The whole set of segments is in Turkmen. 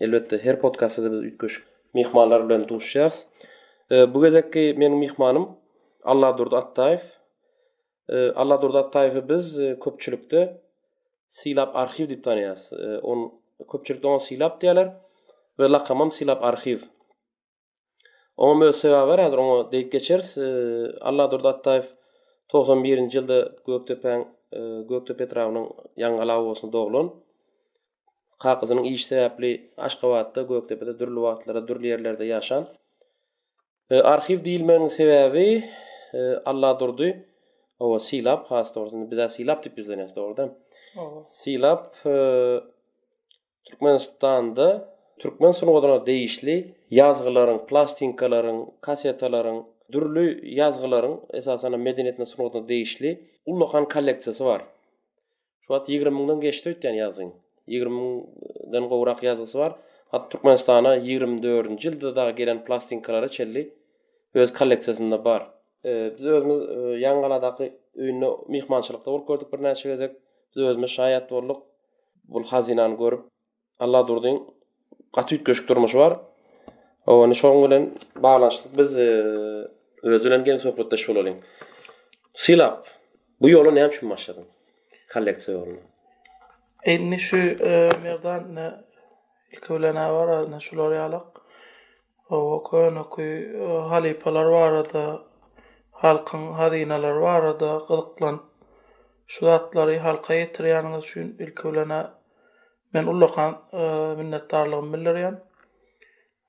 Elbetde, her podkastda-da biz üýtgeşik myhmanlar bilen duşýarys. Bu gezekki meniň myhmanym Alladurdy Atdaýew. Alladurdy Atdaýewi biz köpçülikde Sylap arhiw diýip tanaýarys. On köpçülikde oňa Sylap diýýärler we lakamam Sylap arhiw. Oňa öz sebäbi bar, häzir oňa degip geçeris. Alladurdy Atdaýew 91-nji ýylda Gökdepäň Gökdepe etrabynyň Ýaňgala obasyna doglan. Kakasynyň işi sebäpli Aşgabatda, Gökdepede dürli wagtlara, dürli ýerlerde ýaşan. Arhiw diýilmeginiň sebäbi Alladurdy owa Silap has dogrusy, biz Silap diýip ýüzlenýäs dogrudan. Silap Türkmenistanda türkmen sungatyna degişli ýazgylaryň, plastinkalaryň, kassetalaryň, dürli ýazgylaryň, esasan-da medeniýetine, sungatyna degişli ullakan kolleksiýasy bar. Şu wagt ýigrimi müňden geçdi öýtýän ýazgyň. Ýigrimi müňden gowrak ýazgysy bar. Hat Türkmenistana ýigrimi dördünji ýylda dagy gelen plastinkalary çenli öz kolleksiýasynda bar. Biz özümiz Ýangaladaky öýünde myhmançylykda bolup gördük birnäçe gezek. Biz özümiz şaýat bolduk. Bul hazynany görüp Alladurdyň gaty üýtgeşik durmuşy bar. Owani şoň bilen baglanyşykly biz e, öz bilen geň söhbetdeş bolalyň. Sylap, bu ýola näme üçin başladyň? Kolleksiýa ýoluna. Indi şu e, Merdan e, Ilki bilen a barasynda şular ýalak. Oba köneky halypalar barada, halkyň hazynalary barada gyzyklanyp, şu zatlary halka ýetirýäniňiz üçin ilki bilen a men ullakan minnetdarlygymy bildirýän.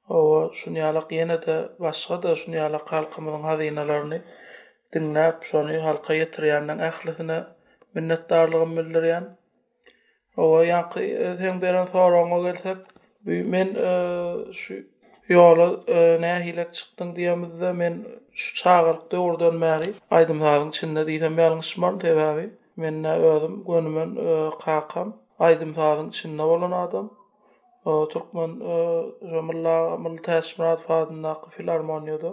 Oba şun ýalak ýene-de başga-da şun ýalak halkymyzyň hazynalaryny diňläp, şony halka ýetirýänleň ählisine minnetdarlygymy bildirýän. Hawa, ýaňky seň beren soragyňa gelsek, bu men şu ýola nähilek çykdyň diýemizde, men şu çagalyk döwürden bäri aýdym-sazyň içinde diýsem ýalňyşmaryn, sebäbi men-ä özüm gönümem kakam aýdym-sazyň içinde bolan adam. Türkmen şu Mylla aga Mylly Täçmyradow adyndaky filarmoniýada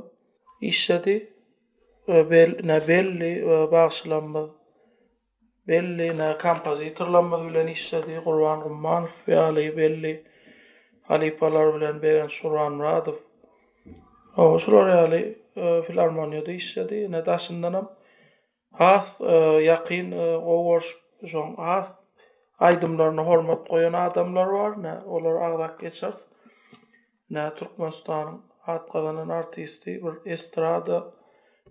işledi. Belli bagşylarymyz belli ne kompozitorlarymyz bilen işledi, Gurban Gummanow ýaly belli halypalar bilen Begenç Gurbanmyradow, o şular ýaly e, filarmoniýada işledi. Ine daşyndan hem has e, ýakyn e, gowy görşüp, şoň has aýdymlaryna hormat goýan adamlar bar, ne olar agzap geçeris. Ine, Türkmenistanyň at gazanan artisti, bir estrada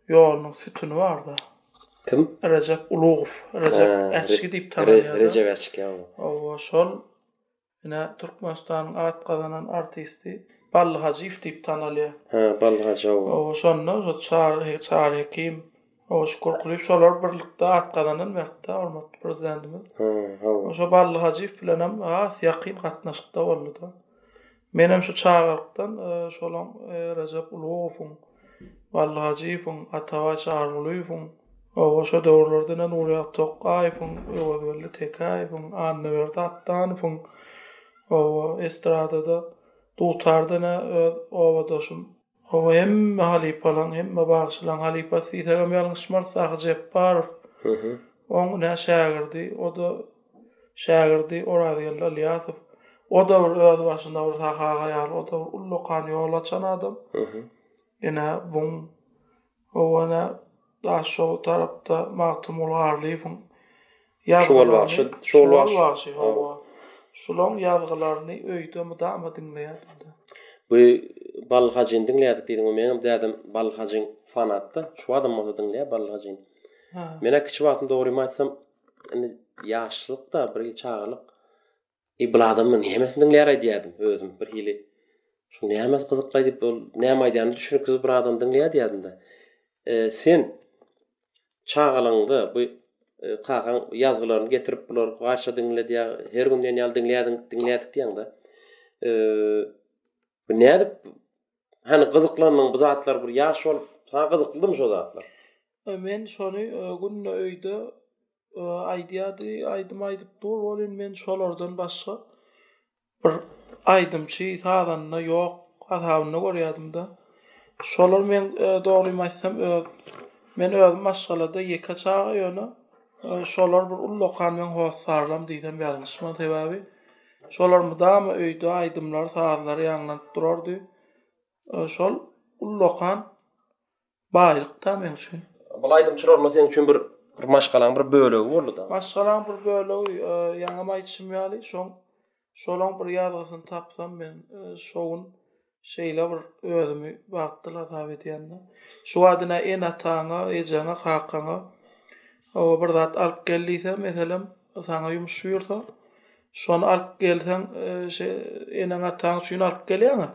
ýolunyň sütüni bar-da. Kim? Rejep Ulugow. Rejep Äçki diýip tanalýar. Re, Rejep Äçki, hawa. Hawa, şol. Ine, Türkmenistanyň at gazanan artisti Bally Hajyýew diýip tanalýar. Hä, Bally Hajy, hawa. Hawa, şonda, şo Çary, Çary Hekim. Hawa şükür kulyp şolar birlikde at gazanan wagtda hormatly prezidentimiz. Ha, hawa. Oşo Bally Hajyýew bilenem has ýakyn gatnaşykda boldy-da. Menem şu çagalykdan e, şolaň e, Rejep Ulugowyň, Bally Hajyýewiň, Atabaý Çarygulyýewiň, Oba şo döwürlerde ne Nurýaz Tokgaýewiň, Öwezgeldi Tekäýewiň, Annaberdi Atdanowyň oba estradada, dutarda ne öz obadaşym Oňa hemme halypalaň, hemme bagşylaň halypasy diýsegem ýalňyşmarys, Sahy Jepbarow. Oň nä şägirdi, o-da şägirdi Orazgeldi Ylýasow. O-da bir özbaşyna bir Sahy aga ýaly, o-da bir ullakan ýol açan adam. Ine, buň Hawa ene daş şol tarapda Magtymguly Garlyýewiň Şugal bagşy, şugal bagşy. Şugal bagşy hawa. Şulaň ýazgylaryny öýde mydama diňleýärdim-de. Bu Balyl Hajyny diňleýärdik diýdiňmi? Meňem dädem Balyl Hajyň fanatdy. Şu badam bolsa diňleýär Balyl Hajyny. Men-ä kiçi wagtym dogrymy aýtsam, indi ýaşlykda, bir çagalyk Eý bul adam muny nämesini diňleýär aýdýardym özüm bir hili şu nämäsi gyzykly aýdyp ol näme aýdýany düşüniksiz bir adam diňleýär diýýärdim-de. Sen çagalygyňda bu kakaň ýazgylaryny getirip bular gaýşa diňle diýýär her gün diýen ýaly diňleýärdiň diňleýärdik diýýäňdä. Bu nädip hany gyzyklandyň bu zatlar bir ýaş bolup saňa gyzyklydymy şo zatlar? Men şony günde öýde aýdýardy, aýdym aýdyp dur, ol indi men şolardan başga bir aýdymçy, sazanda ýok hasabynda görýärdim-de. Şolar men dogrymy aýtsam, öz men özüm maşgalada ýeke çaga ýöne şolar bir ullakan meň hossarlarym diýsem ýalňyşman, sebäbi şolar mydama öýde aýdymlar, sazlar ýaňlanyp durardy. Şol ullakan Baýlyk da men üçin. Bul aýdymçylarymyz seň üçin bir bir maşgalaň bir bölegi boldy da. Maşgalaň bir bölegi ýaňam aýtşym ýaly şoň şolaň bir ýazgysyny tapsam men şo gün şeýle bir özümi bagtly hasap edýända. Şu wagt ine ene ataňa ejeňe kakaňa oba bir zat alyp gel diýse meselem saňa ýumuş buýursa şony alyp gelseň şe eneň ataň üçin alyp gelýäňä.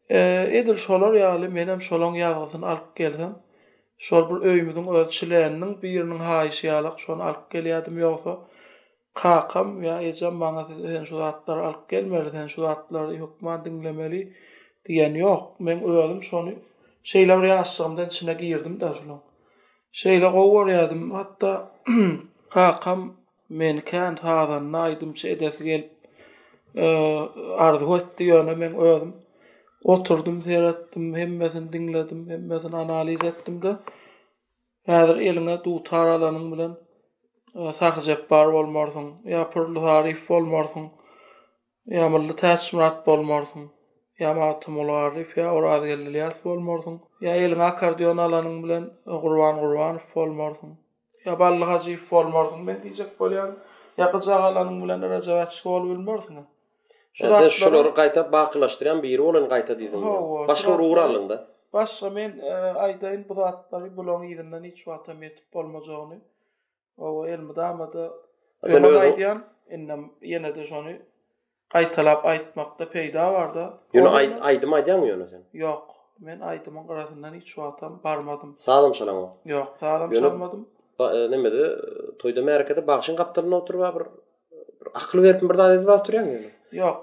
Edil şolar ýaly menem şolaň ýazgysyny alyp gelsem, şol bir öýümiziň öz çileniniň biriniň haýyşy ýalak şony alyp gelýädim, ýogsa kakam ýa ejem maňa siz sen şu zatlary alyp gelmeli, sen şu zatlary hökman diňlemeli diýen ýok. Meň özüm şony şeýle bir ýaşjygymdan içine girdim-de şolaň. Şeýle gowy görýädim, hatda kakam Meni kän sazanda, aýdymçy edesi gelip arzuw etdi, ýöne men özüm oturdym, seretdim, hemmesini diňledim, hemmesini analiz etdim-de, häzir eliňe dutar alanyň bilen Sahyjepbar bolmarsyň, ýa Pürli Saryf bolmarsyň. Ýa Mylly Täçmyrat bolmarsyň, ýa Magtymguly Garyýew, ýa Orazgeldi Ylýas bolmarsyň, ýa eliňe akkordeon alanyň bilen Gurban Gurbanow bolmarsyň, ýa Bally Hajyýew bolmarsyň men diýjek bolýaryn, ýa gyjak alanyň bilen Rejep Äçki bolubilmersiň-ä. Şu zatlar. Sen şulary gaýta bakylaşdyrýan biri bolan gaýta diýdiň. Hawa. Başga bir ugur aldyň-da. Başga men aýdaýyn bu zatlary bulaň yzyndan hiç wagtam ýetip bolmajagyny. Owa, elmydama-da öňem aýdýan, indem ýene-de şony gaýtalap aýtmakda peýda bar-da. Ýöne aý, aýdym aýdýaňmy ýöne sen? Ýok, men aýdymyň gyrasyndan hiç wagtam barmadym. Sazam çalaňok? Ýok, sazam çalmadym. Ba, nemede, toýda-märekede bagşyň gapdalynda oturyp bar bir bir akyl beripmi, bir zat edip oturýaňmy ýöne? Ýok,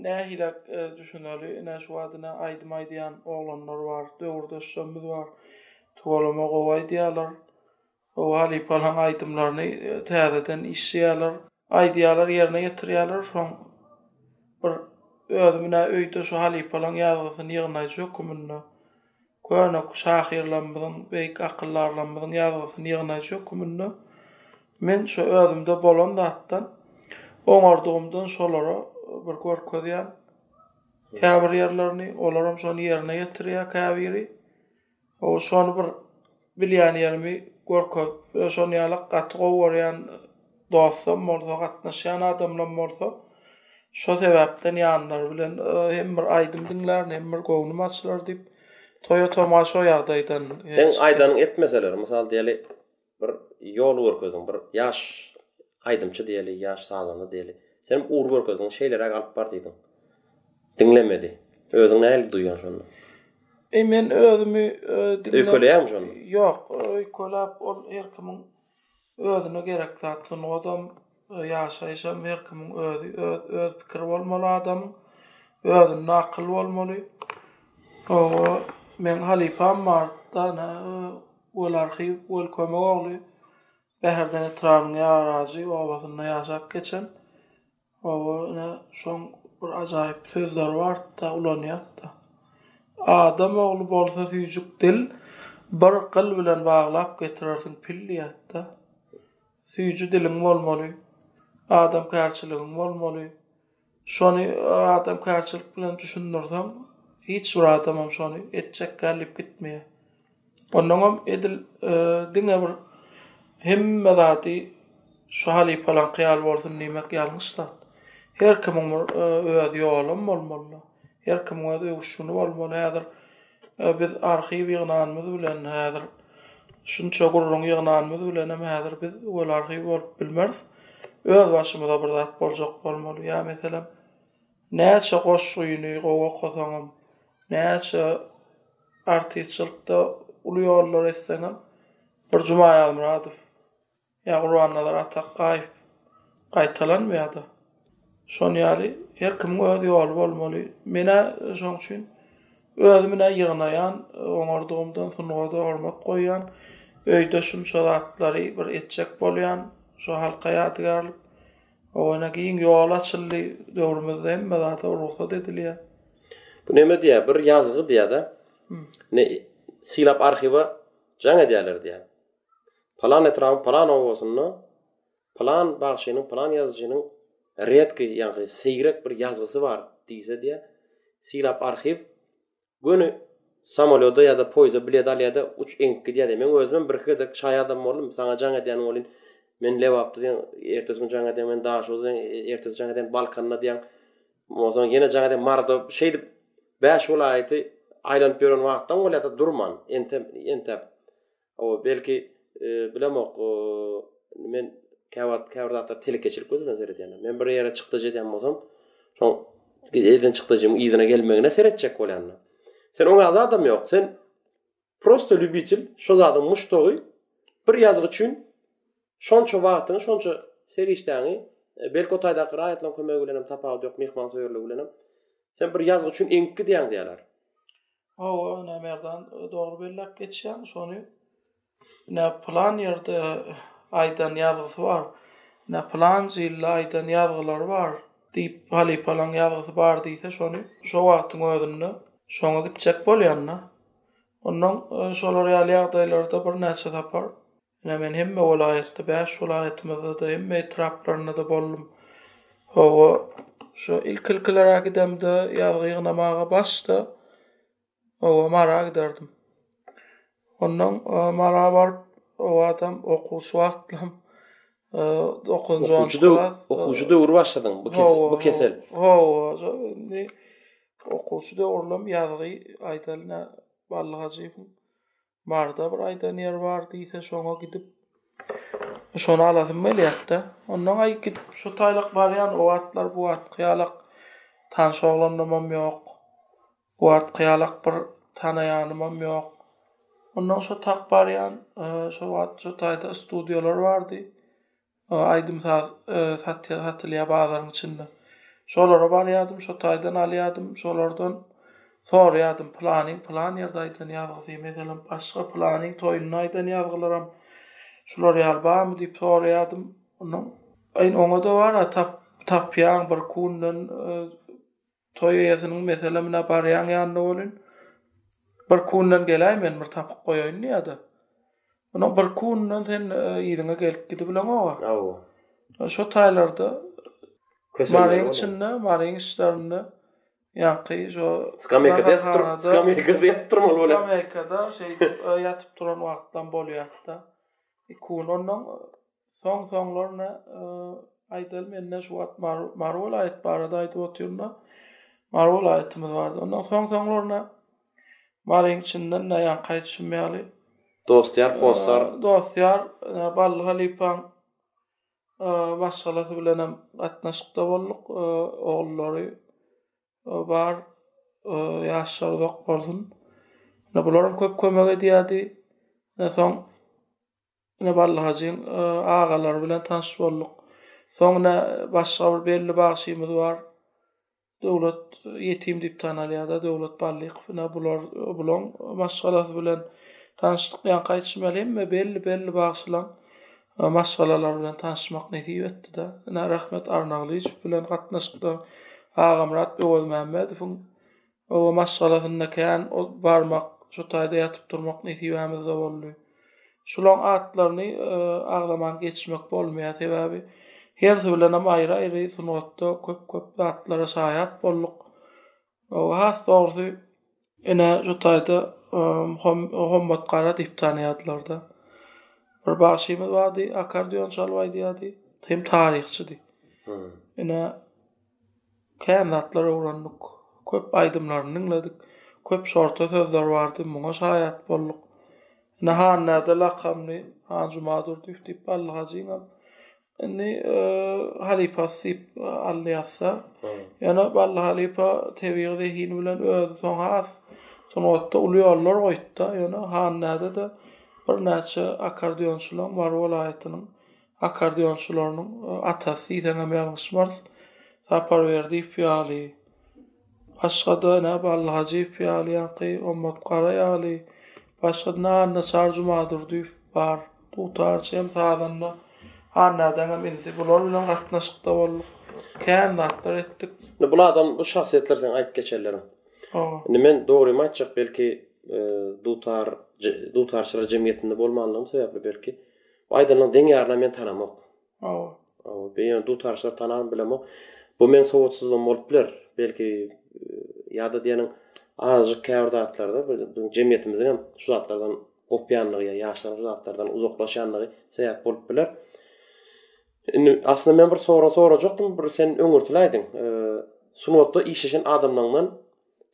nähili düşüneli, ine şu wagt ine aýdym aýdýan oglanlar bar, döwürdeşlerimiz bar. Tuweleme gowy aýdýarlar. Hawa halypalaň aýdymlaryny täzeden işleýärler, aýdýarlar ýerine ýetirýärler soň bir özi menä öýde şu halypalaň ýazgysyny ýygnaýjy höküminde köne şahyrlarymyzyň beýik akyldarlarymyzyň ýazgysyny ýygnaýjy höküminde men şu özümde bolan zatdan oňardygymdan şolara bir görkezýän käbir ýerlerini olaram şony ýerine ýetirýär käbiri. Hawa şony bir bilýän ýerimi görkezip we şon ýalak gaty gowy görýän dostam bolsa gatnaşýan adamlam bolsa şo sebäpden ýanlary bilen hem bir aýdym diňlärin hem bir göwnüm açylar diýip toýa toma şo ýagdaýdan Seň aýdanyň etmeseler mysal diýeli Bir ýol görkezdiň, bir ýaş aýdymçy diýeli, ýaş sazanda diýeli. Senem ugur görkezdiň, şeýleräk alyp bar diýdiň. Diňlemedi. Özüňi nähili duýýaň şonda? E men özümi diňläp. Öýkeleýäňmi şonda? Ýok, öýkeläp ol her kimiň özüne gerek zat. Sungatam Ýaşaýyş hem her kimiň özi, öz pikiri bolmaly adamyň, özünde akyl bolmaly. Oba meň halypam bar, dana Weli Arhyýew, Weli Kömegogly. Bäherden etrabynyň Ýarajy obasynda ýaşap geçen. Oba ine şoň bir ajaýyp sözleri bardy-da, ulanýardy-da. Adam ogly bolsa süýjük dil, bir gyl bilen baglap getirersiň pil diýýärdi-de. Süýji diliň bolmaly. Adamkärçiligiň bolmaly. Şony adamkärçilik bilen düşündirseň, hiç bir adamam şony etjek däl diýip gitmeýär. Onnoňam edil diňe bir hemme zady şu halypalaňky ýaly bolsun diýmek ýalňyş zat. Her kimiň bir öz ýolum bolmaly. Her kimiň öz öwüşgini bolmaly. Häzir Biz arhiw ýygnanymyz bilen häzir şunça gürrüň ýygnanymyz bilenem häzir biz weli arhiw bolup bilmeris. Özbaşymyza bir zat boljak bolmaly. Ýa meselem, näçe goşgyny gowy okasaňam, näçe artistçilikde uly ýollary etseňem bir Jumaýazmyradow Ýa Gurbannazar Atakgaýew gaýtalanmaýada. Şon ýaly her kimiň öz ýoly bolmaly. Men-ä şoň üçin özüm-ä ýygnaýan, oňardygymdan sungada hormat goýýan. Öýde şunça zatlary bir etjek bolýan, şo halka ýadygärlik. Oňa giň ýol açyldy, döwrümizde hemme zada rugsat edilýär. Bu näme diýýär, bir ýazgy diýýär-de, ne sylap arhiwa jaň edýärler diýýär. Palan etrabyň palan obasynda palan bagşynyň, palan ýazyjynyň redki, ýagny seýrek bir ýazgysy bar diýse diýä, sylap arhiw göni samolýoda ýa-da poýizde bilet alýa-da uç eňip gidýä-de. Meň özümem birki gezek şaýadam boldum, saňa jaň edýän welin, men Lebapda diýen, ertesi gün jaň edýän, men Daşoguzda diýen, ertesi jaň edýän, Balkanda diýen, onsoň ýene jaň edýän, Maryda, şeýdip, bäş welaýaty aýlanyp ýören wagtam bolýa-da durman, entäp, entäp. Hawa, belki, bilemok, men käwagt käbir zatlar telekeçilik gözi bilen seredýän. Men bir ýere çykdajy edýän bolsam, şoň eden çykdajymyň yzyna gelmegine seretjek bolýan. Sen oňa zadam ýok. Sen prosta lýubitel, şo zadyň muşdagy, bir ýazgy üçin Şonça wagtyňy, şonça serişdäňi, belki o taýdaky raýatlaryň kömegi bilen hem tapawudy ýok, myhmansöýerligi bilen hem, sen bir ýazgy üçin eňip gidýäň diýýärler. Hawa, ine, Merdan, dogry belläp geçýäň şony. Ine, pylan ýerde aýdan ýazgysy bar, ine, pylanjy ýylda aýdan ýazgylary bar diýip, halypalaň ýazgysy bar diýse, şony şo wagtyň özünde şoňa gitjek bolýan-da. Onnoň şolar ýaly ýagdaýlarda birnäçe sapar Ine, men hemme welaýatda, bäş welaýatymyzda-da, hemme etraplarynda-da boldum. Hawa, şu ilki-ilkiler-ä gidemde, ýazgy ýygnamaga başda, oba Mara giderdim. Onnoň Mara baryp, obadam okuwçy wagtlam, dokuzynjy, onunjy klas. Okuwçy döw, okuwçy döwri başladyň bu kesel, bu kesel. Hawa, hawa, indi okuwçy döwürlem ýazgy, aýdalyna, Bally Hajyýewiň Barda bir aýdan ýer bar diýse şoňa gidip şony alasym gelýärdi. Ondan aý gidip şu taýlak barýan o atlar bu at kyýalak tanş oglanymam ýok. Bu at kyýalak bir tanaýanymam ýok. Ondan şu tak barýan e, şu wagt şu taýda studiýalar bardy. Aýdym-saz satýar, satylýar bazaryň içinde. Şolara barýardym, şo taýdan alýardym, şolardan soraýardym, pylanyň pylan ýerde aýdan ýazgysy, meselem, başga pylanyň toýunda aýdan ýazgylaram şular ýaly barmy diýip soraýardym. Ondan oňa-da bar-a, tapýaň bir kunden, Toý eýesiniň Meselem ine barýaň ýanyna welin, bir kundan geläý men bir tapyp goýaýyn diýýä-de. Onuň bir kundan sen yzyňa gelip gidibileňog-a. Hawa. Şo taýlarda Maryň içinde, Maryň içlerinde ýaňky şo Skameýkada ýatyp dur, skameýkada ýatyp durmaly bolýar. Skameýkada şeýdip ýatyp duran wagtlam bolýar-da. Kundan Soň soňlaryna aýdaly mende şu wagt Mary welaýat barada aýdyp otyrynda Mary welaýatymyz bardy. Ondan soň soňlaryna Maryň içinden näýan kaýtşym ýaly Dostýar Hossar. Dostýar Bally halypaň maşgalasy bilen hem gatnaşykda bolduk. Ogullary bar. Ýaşlar uzak bolsun. Bularam köp kömek edýärdi. Soň Ine Bally hajyň agalary bilen tanyş bolduk. Soň ine başga bir belli bagşymyz bar. Döwlet ýetim diýip tanalýar-da, Döwlet Ballykow. Ine bular bulaň maşgalasy bilen tanyşdyk. Ýaňky aýdyşym ýaly hemme belli-belli bagşylaň maşgalalary bilen tanyşmak nesip etdi-de. Ine Rahmet Arnagylyjow bilen gatnaşykda Agamyrat Öwezmämmedowyň Oba maşgalasynda kän ot barmak, şu taýda ýatyp-turmak nesibämiz-de boldy. Şulaň atlaryny agzaman geçmek bolmaýar, sebäbi hersi bilenem aýry-aýry sungatda köp-köp zatlara şaýat bolduk. Has dogrusy, ine şu taýda Hommat gara diýip tanaýardylar-da. Bir bagşymyz bardy, akardion çalyp aýdýardy, hem taryhçydy. Ine, Kän zatlar öwrendik. Köp aýdymlaryny diňledik. Köp şorta sözler bardy, muňa şaýat bolduk. Ine Hannäde lakamly Hanjumadurdyýew diýip Bally hajyňam indi halypasy diýip aldy ýazsa. Ýöne Bally halypa tebigy zehini bilen özi soň has sungatda uly ýollar goýupdy. Ýöne Hannäde-de birnäçe akkordeonçylaň Mary welaýatynyň Akkordeonçylarynyň atasy diýseňem ýalňyşmarys. Sapar Berdiýew ýaly, başga-da ine Bally Hajyýew ýaly ýaňky Ommat Gara ýaly, başga-da ine Annaçary Jumadurdyýew bar. Dutarçy hem sazanda Hannädäň hem inisi. Bular bilen gatnaşykda bolduk. Kän zatlar etdik. Indi bul adam, bu şahsyýetler seň aýdyp geçenleriň. Hawa. Indi men dogrymy aýtjak, belki, dutar, dutarçylar jemgyýetinde bolmanlygym sebäpli belki, Bu aýdanyň deň ýarynam men tanamok. Hawa. Hawa, be ýöne dutarçylar tanarmy bilemok. Bu meň sowatsyzlygym bolup biler. Belki ýa-da diýeniň azajyk käbir zatlarda biziň jemgyýetimiziň hem şu zatlardan gopýandygy ýa ýaşlaryň şu zatlardan uzaklaşýandygy sebäp bolup biler. Indi aslynda men bir sorag sorajakdym, bir sen öňürtiläýdiň. Sungatda işleşen adamlaňdan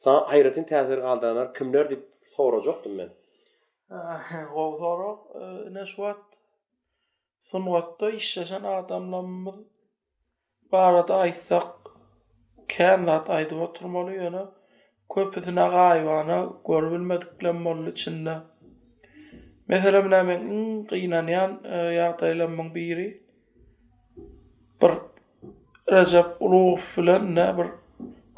saňa aýratyn täsir galdyranlar kimler diýip sorajakdym men. Gowy sorag. Ine şu wagt sungatda işleşen adamlarymyz barada aýtsak kän zat aýdyp oturmaly ýöne köpüsine gaýybana görüp bilmediklem boldy içinde. Meselem ine meň iň gynanýan ýagdaýlarymyň biri bir Rejep Ulugow bilen ne bir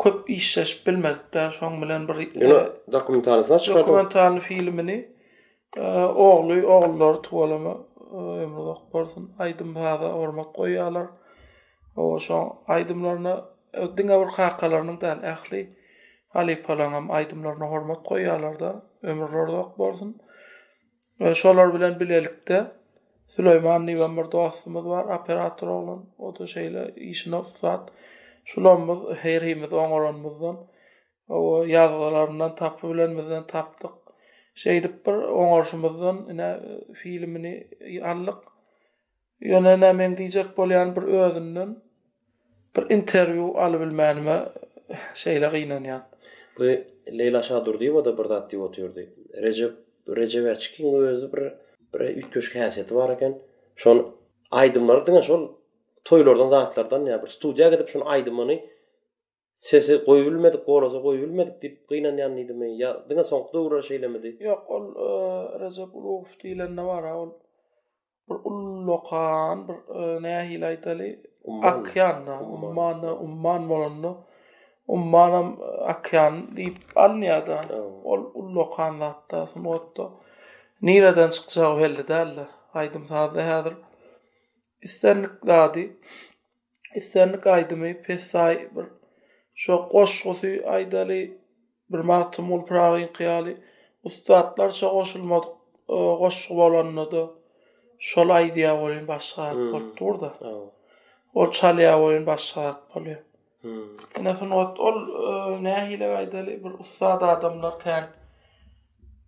köp işleşip bilmedik däl şoň bilen bir Ýöne dokumentanysyny çykardyň. Dokumentalny filmini ogly ogullary tuwalama ömri uzak bolsun aýdym saza hormat goýýarlar. O şoň aýdymlaryna diňe bir kakalarynyň däl ähli halypalaryň hem aýdymlaryna hormat goýýarlar-da ömürleri uzak bolsun. Şolar bilen bilelikde Süleýman diýen bir dostumyz bar, operator oglan, o-da şeýle işine ussat. Şulamyz herimiz oňaranymyzdan, o ýazgylaryndan tapybilenimizden tapdyk. Şeýdip bir oňarşymyzdan ine filmini aldyk. Ýöne nämeň diýjek bolýan bir özünden bir interwýu alybilmänime şeýle gynanýan. Bu Leýla Şadurdyýewa-da bir zat diýip otyrdy. Rejep Rejebäçkiň özi bir bir üýtgeşik häsiýeti bar eken. Şol aýdymlary diňe şol toýlardan zatlardan ýa bir studiýa gidip şuny aýdymyny Sesi goýubilmedik bolasa goýubilmedik diýip gynanýandymy ýa diňe soňky döwürler şeýlemidi? Ýok ol Rejep Ulugow diýilende bara ol bir ullakan bir nähili aýdaly akýanda ummanda umman bolanda ummanam akýan diýip alynýarda ol ullakan zatda sungatda nireden çykjagy belli däldi aýdym sazda häzir islendik zady islendik aýdymy pessaý bir şo goşgusy aýdaly bir Magtymguly Pyragynyňky ýaly ussatlarça goşulmadyk goşgy bolanda-da şol aýdýa welin başga zat bolup dur-da. Ol çalýa welin başga zat bolýar. Ine sungat ol nähili aýdaly bir ussat adamlar kän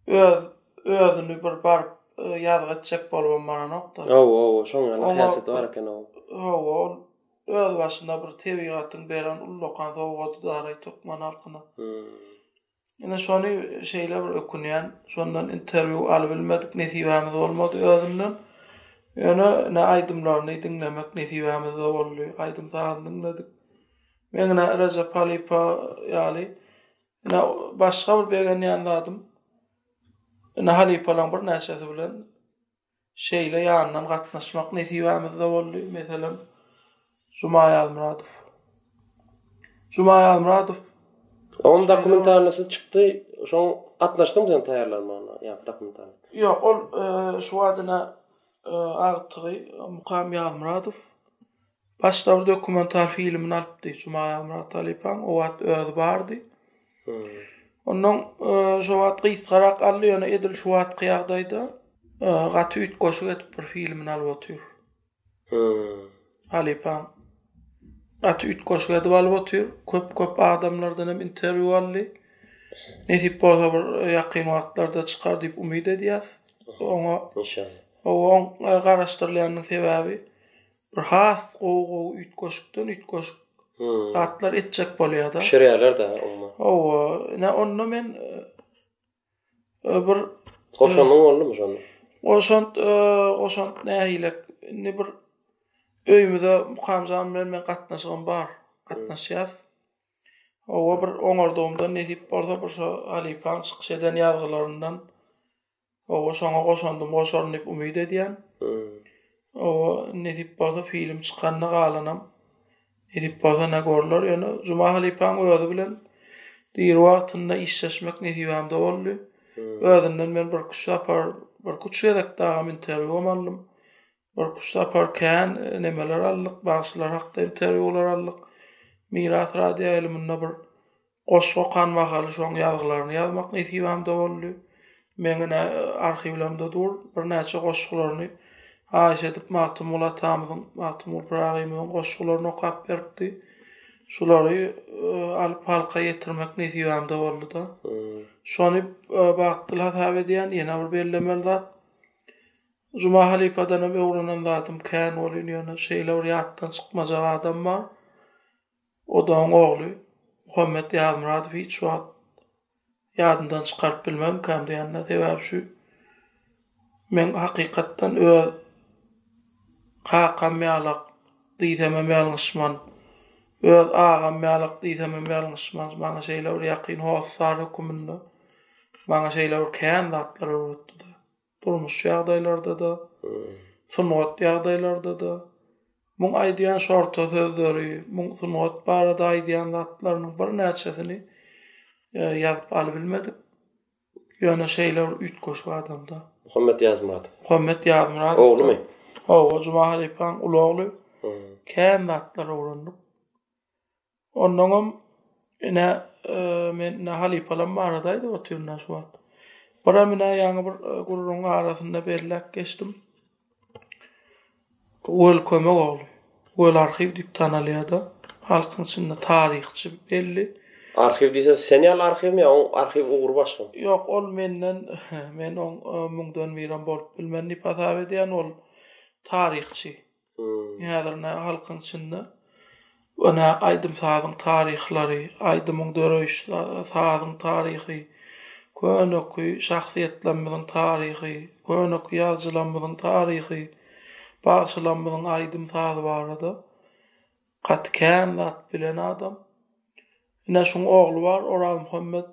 Öz özüni bir baryp ýazgy etjek bolubam baranokda. Hawa, hawa, şoň ýaly häsiýeti bar eken ol. Hawa, ol öz başyna bir tebigatyň beren ullakan sowgadydaray türkmen halkyna. Ine şony şeýle bir ökünýän, şondan interwýu alybilmedik, nesibämiz bolmady özünden. Ýöne ine aýdymlaryny diňlemek nesibämizde boldy, aýdym-sazyny diňledik. Men ine Rejep Halypa ýaly Ine, başga bir begenýän zadym, ine, halypalaryň birnäçesi bilen şeýle ýandan gatnaşmak nesibämiz-de boldy. Meselem, Juma Ýazmyradow. Juma Ýazmyradow. Onuň dokumentalnysy çykdy, şoň gatnaşdyňmy sen taýýarlanmagyna, ýa dokumentalny? Ýok, ol şu wagt ine agtygy Mukam Ýazmyradow Baş dabr dokumental filmini alypdy Jumaýa Myrathalypaň o wagt özi bardy. Ondan şo wagt gysgarak aldy ýöne edil şu wagtky ýagdaýda gaty üýtgeşik edip bir filmini alyp otyr. Halypaň gaty üýtgeşik edip alyp otyr. Köp köp adamlardan hem interwýu aldy. Nesip bolsa bir ýakyn wagtlarda çykar diýip umyt edýäs. Oňa inşallah. Oň garaşdyrylýanyň sebäbi Bir has gowy gowy üýtgeşikden üýtgeşik zatlar etjek bolýada. Bişirýärler da umuman. Hawa, ine onda men bir Goşandyň boldumy şonda? Goşant, goşant nähilek, indi bir öýümize Mukamjan bilen men gatnaşygym bar, gatnaşýas. Hawa, bir oňardygymdan nesip bolsa bir şo halypaň çykyş eden ýazgylaryndan Oba şoňa goşandym goşaryn diýip umyt edýän. Oba nesip bolsa film çykanda galanam nesip bolsa ne görler ýöne Juma halypaň özi bilen diri wagtynda işleşmek nesibämde boldy. Özünden men birküç sapar birküç gezekde agam interwýum aldym. Görküş sapar kän nemeler aldyk, bagşylar hakda interwýular aldyk. Miras radioýaýlymynda bir goşgy okan mahaly şoň ýazgylaryny ýazmak nesibämde boldy. Meň ine arhiwlerimde dur, birnäçe goşgularyny haýyş edip Magtymguly atamyzyň, Magtymguly Pyragyymyzyň goşgularyny okap beripdi. Şulary alyp halka ýetirmek nesibämde boldy-da. Şony bagtly hasap edýän, ýene bir bellemeli zat, Juma halypadanam öwrenen zadym kän bolýn ýöne şeýle bir ýatdan çykmajak adam bar Odagyň ogly Muhammet Ýazmyradow hiç wagt ýadyndan çykaryp bilmemkäm diýende sebäbi şu men hakykatdan öz kakam ýalak diýsemem ýalňyşman öz agam ýalak diýsemem ýalňyşman maňa şeýle bir ýakyn hossar höküminde maňa şeýle bir kän zatlar öwretdida. Durmuş ýagdaýlarda-da, sungat ýagdaýlarda-da. Muň aýdýan şorta sözleri, muň sungat barada aýdýan zatlarynyň birnäçesini ýazyp alybilmedik. Ýöne şeýle bir üýtgeşik adam-da. Muhammet Ýazmyradow. Muhammet Ýazmyradow. Oglumy? Hawa, Juma halypaň uly ogly. Kän zatlar öwrendik. Onnoňam, ine, men ine halypalam baradaýda otyryn-a şu wagt. Biram ine ýaňy bir gürrüňiň arasynda belläp geçdim. Weli Kömek ogly. Weli arhiw diýip tanalýar-da. Halkyň içinde taryhçy belli. Arhiw diýseň, sen ýaly arhiwmi ýa oň arhiw ugry başgamy? Ýok, ol menden, men oň müňden birem bolup bilmen diýip hasap edýän, ol taryhçy. Häzir-ne halkyň içinde öne aýdym-sazyň taryhlary, aýdymyň döreýiş sazyň taryhy, köneky şahsyýetlerimiziň taryhy, köneky ýazyjylarymyzyň taryhy, bagşylarymyzyň aýdym-sazy barada gaty kän zat bilen adam. Ine, şuň ogly bar, Orazmuhammet.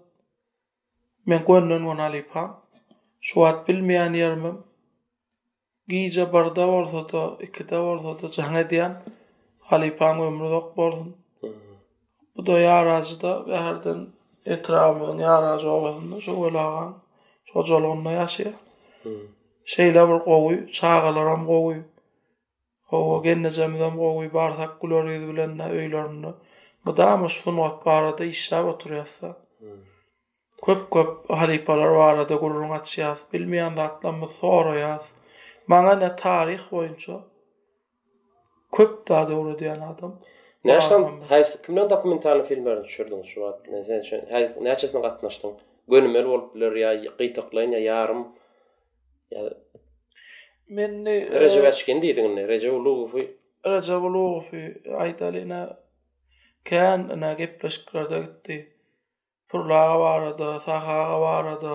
Men gönden-göni halypam. Şu wagt bilmeýän ýerimem. Gije birde bolsada, ikide bolsada jaň edýän. Halypaň ömri uzak bolsun. Bu-da ýarajyda Bäherden etrabymyzyň Ýarajy obasynda şu Weli agaň hojalygynda ýaşaýar. Şeýle bir gowy, çagalaram gowy. Hawa, gelnejemizem gowy, barsak güler ýüz bilen-de öýlerinde. Mydama şu sungat barada işläp oturýas-da. Köp köp halypalar barada gürrüň açýas, bilmeýän zatlarymyzy soraýas. Maňa ine taryh boýunça köp zady öwredýän adam. Näçe haýsy kimleň dokumentalny filmlerini düşürdiňiz şu wagt? Sen şo haýsy näçesine gatnaşdyň? Gönümel bolup biler ýa gytaklaýyn ýa ýarym. Men indi Rejep Äçkin diýdiň indi, Rejep Ulugowy. Rejep Ulugowy aýdaly ine kän ine gepleşiklerde gitdi. Purla aga barada, Sahy aga barada.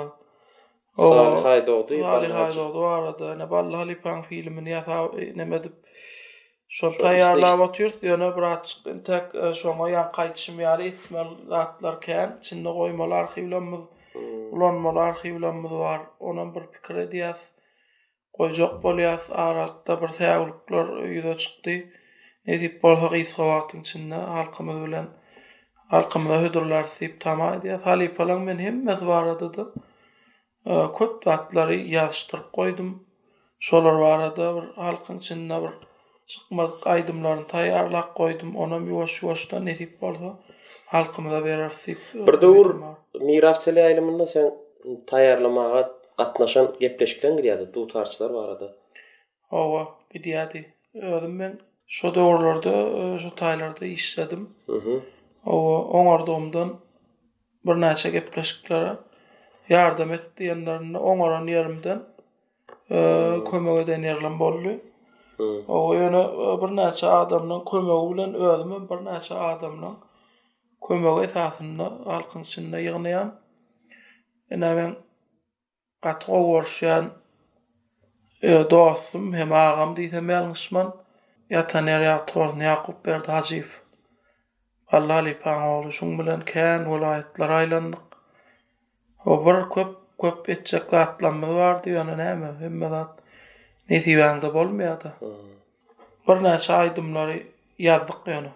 Salyh Aýdogdy, Salyh Aýdogdy barada. Ene Bally halypaň filmini ýasap, näme edip şony taýýarlap otyrs. Ýöne bratçyk entek e, şoňa ýaňky aýdyşym ýaly etmeli zatlar kän. Içinde goýmaly arhiwlerimiz, hmm. ulanmaly arhiwlerimiz bar. Onam bir pikir edýäs. goýjak bolýarys, aralykda bir säwlikler ýüze çykdy. Nesip bolsa gysga wagtyň içinde halkymyz bilen halkymyza hödürlärys diýip tama edýäs. Halypalaň men hemmesi barada-da köp zatlary ýazyşdyryp goýdum. Şolar barada bir halkyň içinde bir Çykmadyk aýdymlaryny taýýarlap goýdum, onam ýuwaş-ýuwaşdan nesip bolsa halkymyza bereris diýip Bir döwür Miras teleýaýlymynda seň taýýarlamaga gatnaşan gepleşikleň gidýärdi, dutarçylar barada. Hawa, gidýärdi. Özüm men şo döwürlerde şo taýlarda işledim. Hawa, oňardygymdan birnäçe gepleşiklere ýardam et diýenlerinde oňaran ýerimden kömek eden ýerim boldy. O ýöne birnäçe adamlaryň kömegi bilen özüm hem birnäçe adamlaryň kömegi esasynda halkyň içinde ýygnaýan. Ine men gaty gowy görüşýän dostum hem agam diýsem ýalňyşman ýatan ýeri ýagty bolsun Ýakupberdi Hajyýew. Bally halypaň ogly şuň bilen kän welaýatlary aýlandyk. Ho bir köp köp etjek zatlamyz bardy ýöne näme hemme zat nesibäňde bolmaýada. Birnäçe aýdymlary ýazdyk ýöne.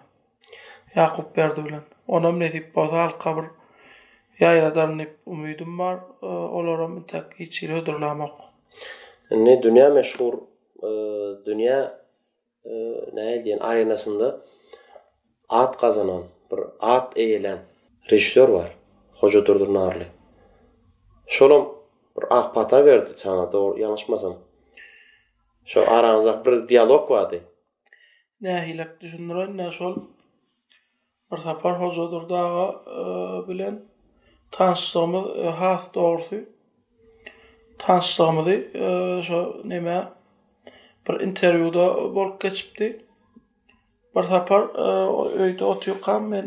Ýakupberdi bilen. Onam nesip bolsa halka bir ýaýradaryn diýip umydym bar. Olaram intäk hiç hili hödürlämok. Indi dünýä meşhur dünýä nähili diýen arenasynda at gazanan, bir at eýelän režissýor bar, Hoja Durdy Narly. Şolam bir ak pata berdi saňa, dogry ýalňyşmasam. Şo araňyzda bir dialog bardy. Nähilek düşündireýin-dä, şol Bir sapar Hojadurdy aga bilen tanyşlygymyz has dogrusy tanyşlygymyzy şo neme bir interwýuda bolup geçipdi. Bir sapar öýde otyrkam men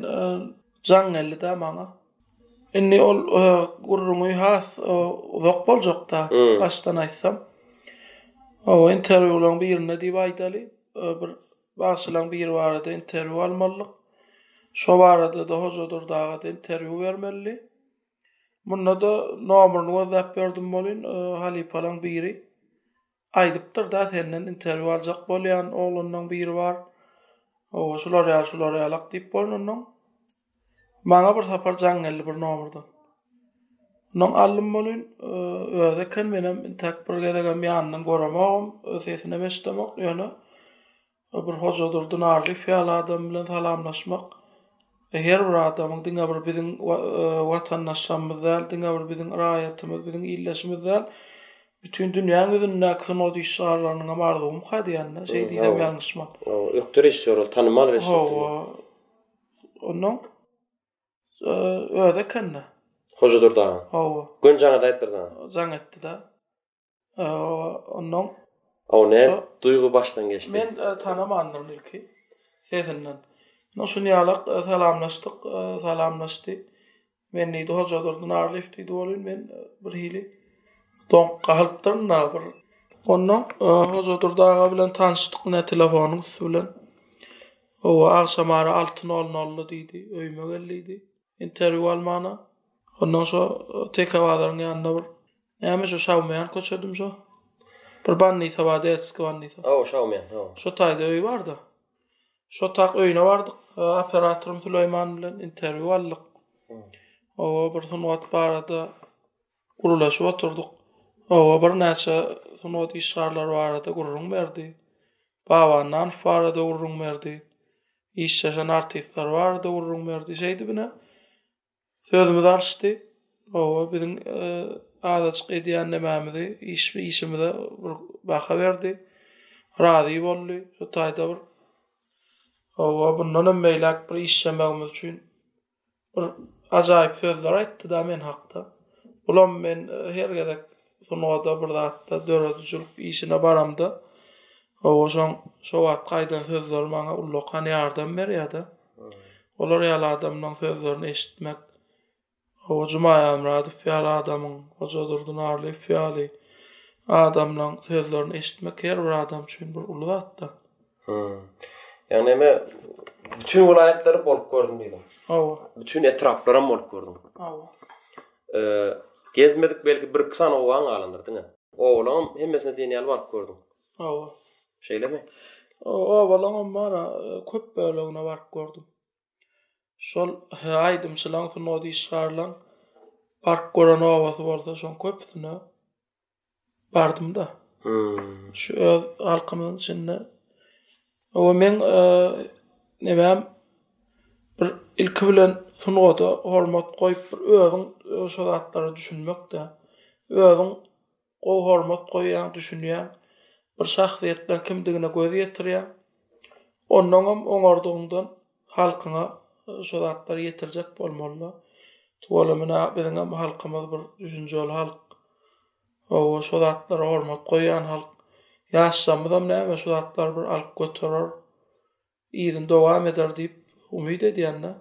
jaň geldi-de maňa. Indi ol gürrüňi has uzak boljak-da, başdan aýtsam. Interwýularyň birinde diýip aýdaly, bir Bagşylaň biri barada interwýu almalydyk. Şo barada-da hojadyr daga-da interwýu bermelidi. Munda-da nomerini gözläp berdim welin, halypalaň biri aýdypdyr-da, senden interwýu aljak bolýan oglanlaň biri bar. Oba, şular ýaly, şular ýalak diýip bolnundan. Maňa bir sapar jaň geldi bir nomerden. Ondan aldym bolyn, özi eken menem intäk bir gezegem ýanyndan göremogum, sesinem eşidemok, ýöne bir Hojadurdy Narlyýew ýaly adam bilen salamlaşmak her bir adamyň diňe bir biziň watandaşlarymyz däl, diňe bir biziň raýatymyz, biziň ildeşimiz däl, bütin dünýäň ýüzündäki sungat işgärleriniň hem arzuwymyka diýýän-de, şeý diýsem ýalňyşman. Hawa, ökde rejissýor ol, tanymal rejissýor. Hawa. Ondan öz ekende. Hoja Durdaga. Hawa. Gün jaňa daýypdyr da. Jaň etdi da. Ondan. Aw ne duýgy başdan geçdi. Men tanamandym ilki. Sesinden. Ondan şuny ýalak salamlaşdyk, salamlaşdy. Men diýdi, Hojadurdy Narlyýew diýdi welin, men birhili doňup galypdyryn-da bir. Ondan Hojadurdy aga bilen tanyşdyk ine telefonyň üsti bilen. Owa, agşam ara alty nol-nolda diýdi, öýüme gel diýdi. Interwýu almana. Ondan şo Teke bazaryň ýanynda bir näme şo Şawmýan köçedim şo. Bir bannisa bar, Detskiý bannisa. Ow, Şawmýan, ow. Şo taýda öýi bar-da. Şotak öýüne bardyk. Operatorym Süleýman bilen interwýu aldyk. Oba bir sungat barada gürleşip oturdyk. Oba birnäçe sungat işgärleri barada gürrüň berdi. Baba Annanow barada gürrüň berdi. Işleşen artistler barada gürrüň berdi. Şeýdibine Sözümiz alyşdy. Hawa, biziň azajyk edýänlemämizi, işimize bir baha berdi. Razy boldy. Şu taýda bir Hawa, mundanam beýläk bir işlemegimiz üçin bir ajaýyp sözler aýtdy-da men hakda. Bulam men her gezek Sungata bir zatda döredijilik işine baramda owaşaň şo wagtky aýdan sözleri maňa ullakan ýardam berýärdi. Olar ýaly adamlaň sözlerini eşitmek Owa Jumaýamradow ýaly adamyň, Hoja Durdunarlyýew ýaly adamlaň sözlerini eşitmek her bir adam üçin bir uly zatda. Hum. Ýagny näme bütin welaýatlary bolup gördüm diýdim. Hawa. Bütin etraplaram bolup gördüm. Hawa. Eee, gezmedik belki bir iki sany obaň galandyr diňe. Obalaň hemmesine diýen ýaly baryp gördüm. Hawa. Şeýlemi? Obalaňam bar, köp bölegine baryp gördüm. Şol aýdymçylaň sungat işgärleň baryp gören obasy bolsa şoň köpüsine bardym-da. Şu öz halkymyzyň içinde we meň nebäm bir ilki bilen sungata hormat goýup, bir özüň şo zatlara düşünmek-de, özüň gowy hormat goýýaň, düşünýäň, bir şahsyýetleriň kimdigine göz ýetirýäň. Onnoňam oňardygyňdan. Halkyňa şu zatlary ýetirjek bolmalyda. Tuwala menä biziňem halkymyz bir düşünjeli halk. Hawa şu zatlara hormat goýýan halk. Ýaşlarymyzam näme şu zatlary bir alyp göterer. Yzyny dowam eder diýip umyt edýän-de.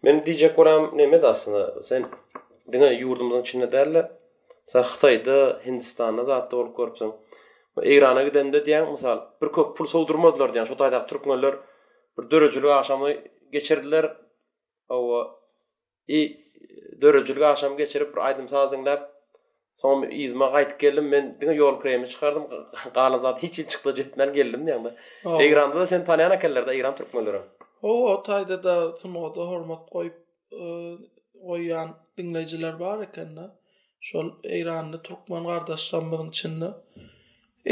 Men diýjek bolam neme-de aslynda sen diňe ýurdumyzyň içinde däl-de, Sen hytaýda hindistanda zatda bolup görüpsiň. Eýrana gidende diýýäň mysal bir köp pul sowdurmadylar diýýäň şo taýdaky türkmenler bir döredijilik agşamy geçirdiler hawa i döredijilik agşamy geçirip bir aýdym saz diňläp soňam yzyma gaýdyp geldim men diňe ýol kireýimi çykardym galan zat hiç hiç çykla jetmän geldim diýýäňde eýranda da seni tanýan ekenlerde eýran türkmenleri hawa o taýda da sunada hormat goýup goýýan diňleýjiler bar ekende. Şol Eýranly türkmen gardaşlarymyzyň içinde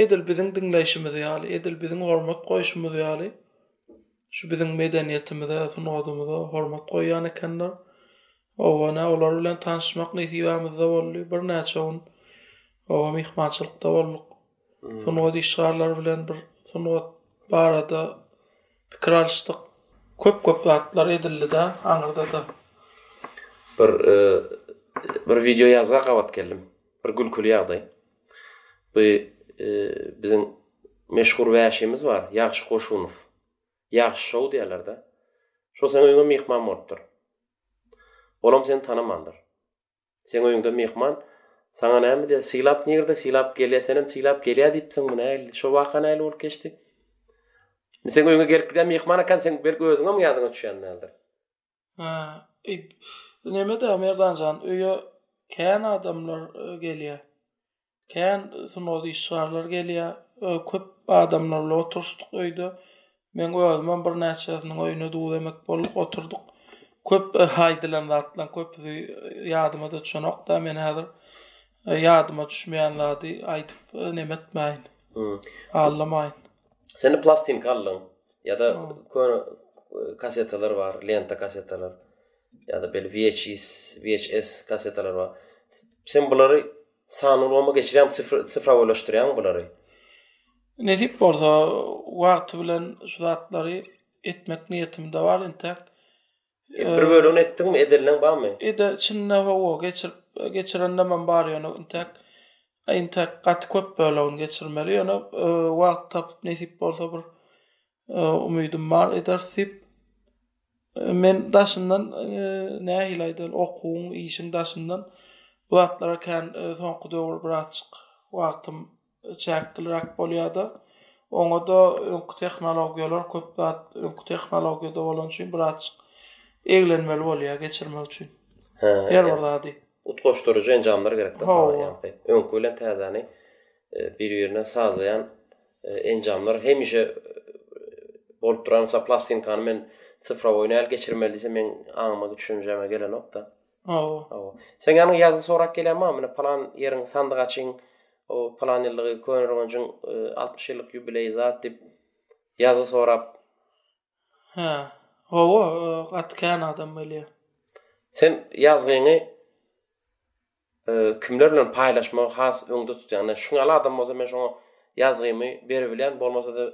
edil biziň diňleýşimiz ýaly, edil biziň hormat goýşumyz ýaly şu biziň medeniýetimize, sungatymyza hormat goýýan ekenler. Oba nä olar bilen tanyşmak nesibämizde boldy. Birnäçe gün oba myhmançylykda bolduk. sungat işgärleri bilen bir sungat barada pikir alyşdyk. Köp-köp zatlar edildi-de aňyrda-da. Bir bir wideo ýazga gabat geldim. Bir gülküli ýagdaý. Bu biziň meşhur wäşimiz bar, Ýagşy Goşunow. Ýagşy şou diýerler-de. Şo seň öýüňe myhman bolupdyr. Olam seni tanamandyr. Seň öýüňde myhman. Saňa näme diýýär? Sylap nirde? Sylap gelýär. Senem sylap gelýär diýipsiň. Bu nähili? Şo waka nähili bolup geçdi? Men seň öýüňe gelip gidýän myhman ekän, seň belki özüňem ýadyňa düşýän däldir. Hä, ip. Neme-dä, Merdan jan, öýe kän adamlar gelýär. Kän sungat işgärleri gelýär. Öý köp adamlar bilen oturyşdyk öýde. Men özümem birnäçesiniň öýüne duz emek bolduk, oturdyk. Köp aýdylan zatlaryň köpüsi ýadyma-da düşenok-da, men häzir ýadyma düşmeýän zady aýdyp neme etmäýin. Allamaýyn. Sen-de plastinka aldyň. Ýa-da köne kassetalar bar, lenta kassetalar. Ýa-da bel VHS, VHS kassetalar bar. Sen bulary Sanly ulgama geçirýäň, sifrowoýlaşdyrýaň bulary. Nesip bolsa, wagty bilen şu zatlary etmek niýetimde bar entek. Bir bölegini etdiňmi, edenileň barmy? Ede, çynda hawa, geçirip, geçirenlemem bar ýöne entek, entek gaty köp bölegini geçirmeli, ýöne wagt tapyp nesip bolsa bir Umydym bar ederis diýip. Men daşyndan nähili aýdaýyn, okuwyň, işiň daşyndan bu zatlara kän soňky döwür birazjyk wagtym çäkliräk bolýar-da. Oňa-da öňki tehnologiýalar köp zat öňki tehnologiýada bolany üçin birazjyk eglenmeli bolýar geçirmek üçin her bir zady. Utgaşdyryjy enjamlar gerekdir saňa ýaňky öňki bilen täzäni bir-birine sazlaýan enjamlar hemişe bolup duran sa plastinkany men sifrowoý näl geçirmeli diýse men aňyma düşünjeme gelenokda. Hawa. Hawa. Sen ýanyň ýazgy sorap gelýän bar, mine palan ýeriň sandyk açyň, o palan ýyllygy köne roňajyň 60 e, ýyllyk ýubileý zat diýip ýazgy sorap Hä. Hawa, gaty kän adam gelýär. Sen ýazgyňy kimler bilen paýlaşmagy has öňde tutýaň? Ine, şuňaly adam bolsa men şoňa ýazgymy beribilýän, bolmasa-da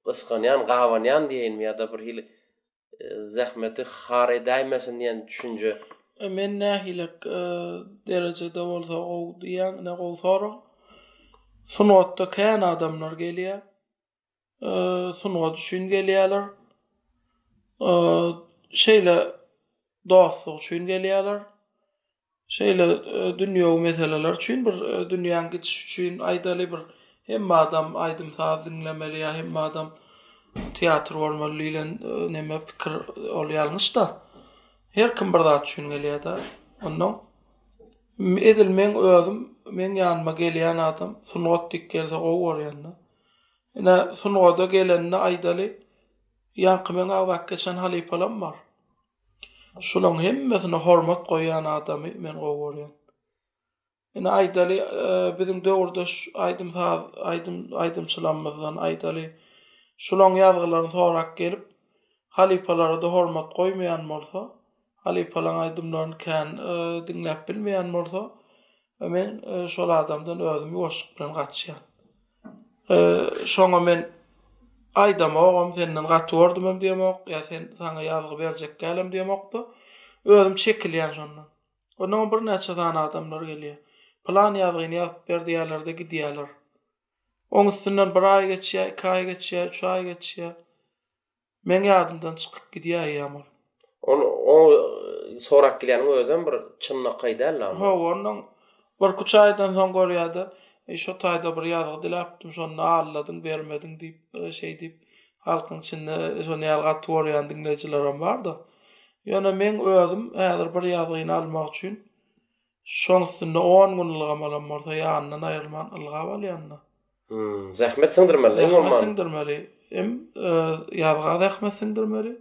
gysganýan, gabanýan diýeýinmi ýa-da birhili zähmeti har edäýmesin diýen düşünje. Men nähili derejede bolsa gowy diýýäň, ine gowy sorag. Sungatda kän adamlar gelýär. e, sungat üçin gelýärler. E, şeýle dostluk üçin gelýärler. Şeýle e, dünýew meseleler üçin bir e, dünýäň gidiş üçin aýdaly bir hemme adam aýdym saz diňlemeli ýa hemme adam teatr bolmaly diýlen e, neme pikir ol ýalňyş da. Her kim bir zat üçin gelýär da. Ondan edil men özüm men ýanyma gelýän adam sungat dik gelse gowy görýän da. Ine, sungada gelende aýdaly, ýaňky meň agzak geçen halypalam bar. Şulaň hemmesine hormat goýýan adamy men gowy görýän. Ine, aýdaly, biziň döwürdeş aýdym-saz, aýdym, aýdymçylarymyzdan, aýdaly, şulaň ýazgylaryny sorap gelip, halypalara-da hormat goýmaýan bolsa, Halypalaň aýdymlaryny kän diňläp bilmeýän bolsa men şol adamdan özüm ýuwaşlyk bilen gaçýan. Şoňa men aýdamogam senden gaty gördümem diýemok ýa sen saňa ýazgy berjek dälem diýemokda özüm çekilýän şondan. Ondan birnäçe sany adamlar gelýär. Plan ýazgyny ýazyp ber diýýärlerde gidýärler. Oň üstünden bir aý geçýär, iki aý geçýär, üç aý geçýär. Meň ýadymdan çykyp gidýär eýýäm ol. Ol oňa sorap gelýäniň özem bir çynlakaý däl-le onda. Hawa, ondan birküç aýdan soň görýär-de, Eý, şo taýda bir ýazgy diläpdim, şonda alladym, bermediň diýip, şeý diýip, halkyň içinde şonuň ýaly gaty görýän diňleýjilerim bar-da. Ýöne meň özüm häzir bir ýazgyny almak üçin Şoň üstünde on gün ylgam alan bolsa ýanyndan aýrylman ylgap alýanda. Hum zähmet siňdirmeli iň bolman. Zähmet siňdirmeli hem ýazga zähmet siňdirmeli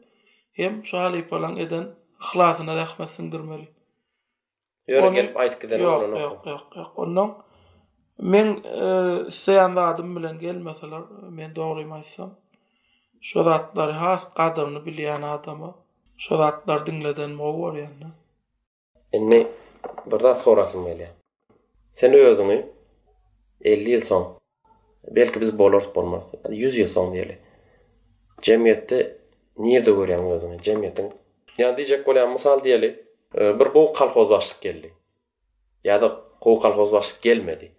hem şu halypalaň eden yhlasyna zähmet siňdirmeli. Ýöne gelip aýdyp giden bolany. Ýok ýok ýok ýok ondan men isleýän zadym bilen gelmeseler men dogrymy aýtsam şo zatlary has gadyryny bilýän adama şo zatlary diňleden gowy görýän. Indi bir zat sorasym gelýär. Sen özüňi elli ýyl soň, belki biz bolarys, bolmarys, ýüz ýyl soň diýeli, jemgyýetde nirde görýäň özüňi? Jemgyýetiň, ýa diýjek bolýan, mysal diýeli, bir gowy kolhozbaşlyk geldi ýa-da gowy kolhozbaşlyk gelmedi.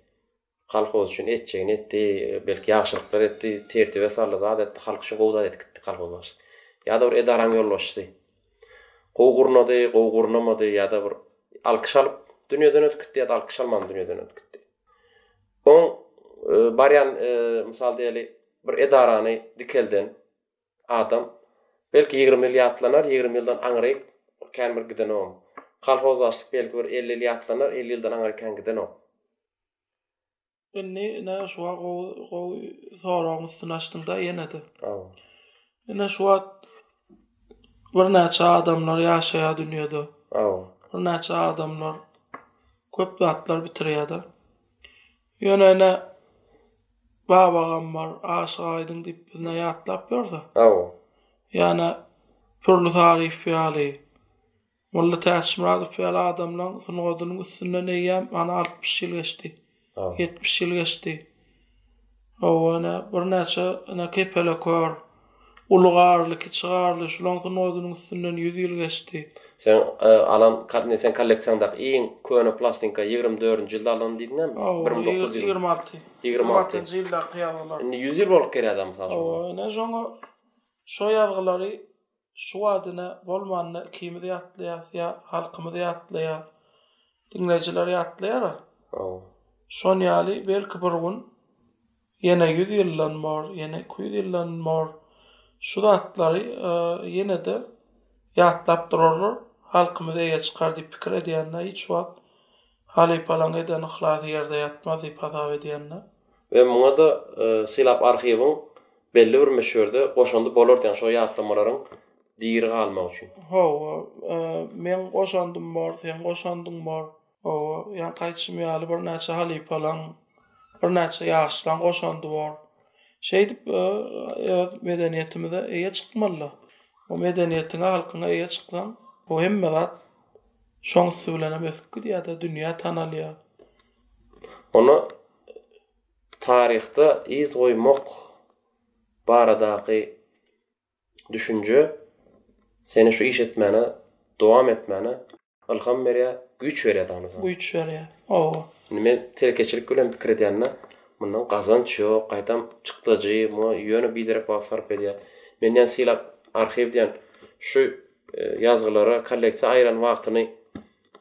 Kolhoz üçin etjegini etdi, belki ýagşylyklar etdi, tertibe saldy, zat etdi, halk üçin gowy zat edip gitdi kolhoz başy. Ýa-da bir edaranyň ýolbaşçysy. Gowy gurnady, gowy gurnamady ýa-da bir alkyş alyp dünýeden ötüp gitdi ýa-da alkyş alman dünýeden ötüp gitdi. Oň e, barýan e, mysal diýeli bir edarany dikelden adam belki 20 ýyl ýatlanar, 20 ýyldan aňryk kän bir giden oň. Kolhoz başlyk belki bir 50 ýyl ýatlanar, 50 ýyldan aňryk kän giden oň. Indi ine şu wagt gowy gowy soragyň üstüni açdyňda ýene-de. Ine şu wagt birnäçe adamlar ýaşaýar dünýäde. Birnäçe adamlar köp zatlar bitirýär-de. Ýöne ine babagam bar, Aşyk Aýdyň diýip bizne ýatlap ýörse. Ýa-da Pürli Saryýew ýaly. Molla Täçmyradow ýaly adamlaň sungadynyň üstünden eýýäm ana altmyş ýyl geçdi. Ýetmiş ýyl geçdi. Hawa, ine, birnäçe, ine, kepelekör, uly garly, kiçi garly şulaň sungadynyň üstünden ýüz ýyl geçdi. Seň alan, indi seň kolleksiýaňdaky iň köne plastinka ýigrimi dördünji ýylda alanyny diýdiňmi? Hawa, bir müň dokuz ýüz ýigrimi alty. Ýigrimi altynjy ýyldaky ýazgylar. Indi ýüz ýyl bolup gelýär-dä, mysal üçin. Hawa, ine, şoňa, şo ýazgylary. Şu badyna bolmanda ikimiz ýatlaýas ýa halkymyz ýatlaýa diňleýjiler ýatlaýara. Hawa. Şon ýaly belki bir gün ýene ýüz ýyldan bor, ýene iki ýüz ýyldan bor şu zatlary ýene-de ýatlap durarlar, halkymyz eýe çykar diýip pikir edýänine hiç wagt Halypalaň eden yhlasy ýerde ýatmaz diýip hasap edýända. We muňa-da Sylap arhiwiň belli bir möçberde goşandy bolardy, ýagny şo ýatlamalaryň diri galmagy üçin. Hawa, meň goşandym bor, seň goşandyň bor. Hawa, ýagny aýtşym ýaly birnäçe halypalaň, birnäçe ýaşlaň goşandy bor. Şeýdip öz medeniýetimize eýe çykmaly-da. O medeniýetiňe, halkyňa eýe çyksaň, bu hemme zat. Şoň üsti bilen hem ösüp gidýär-de, dünýä tanalýar. Onda taryhda yz goýmak baradaky düşünje seni şu iş etmäne, dowam etmäne ylham berýär, güýç berýär dagyny öýdýän. Güýç berýär, hawa. Indi men telekeçilik bilen pikir edende, mundan gazanç ýok, gaýtam çykdajy, muňa ýöne biderek wagt sarp edýär. Menden sylap arhiw diýen şu Ýazgylara kolleksiýa aýyran wagtyny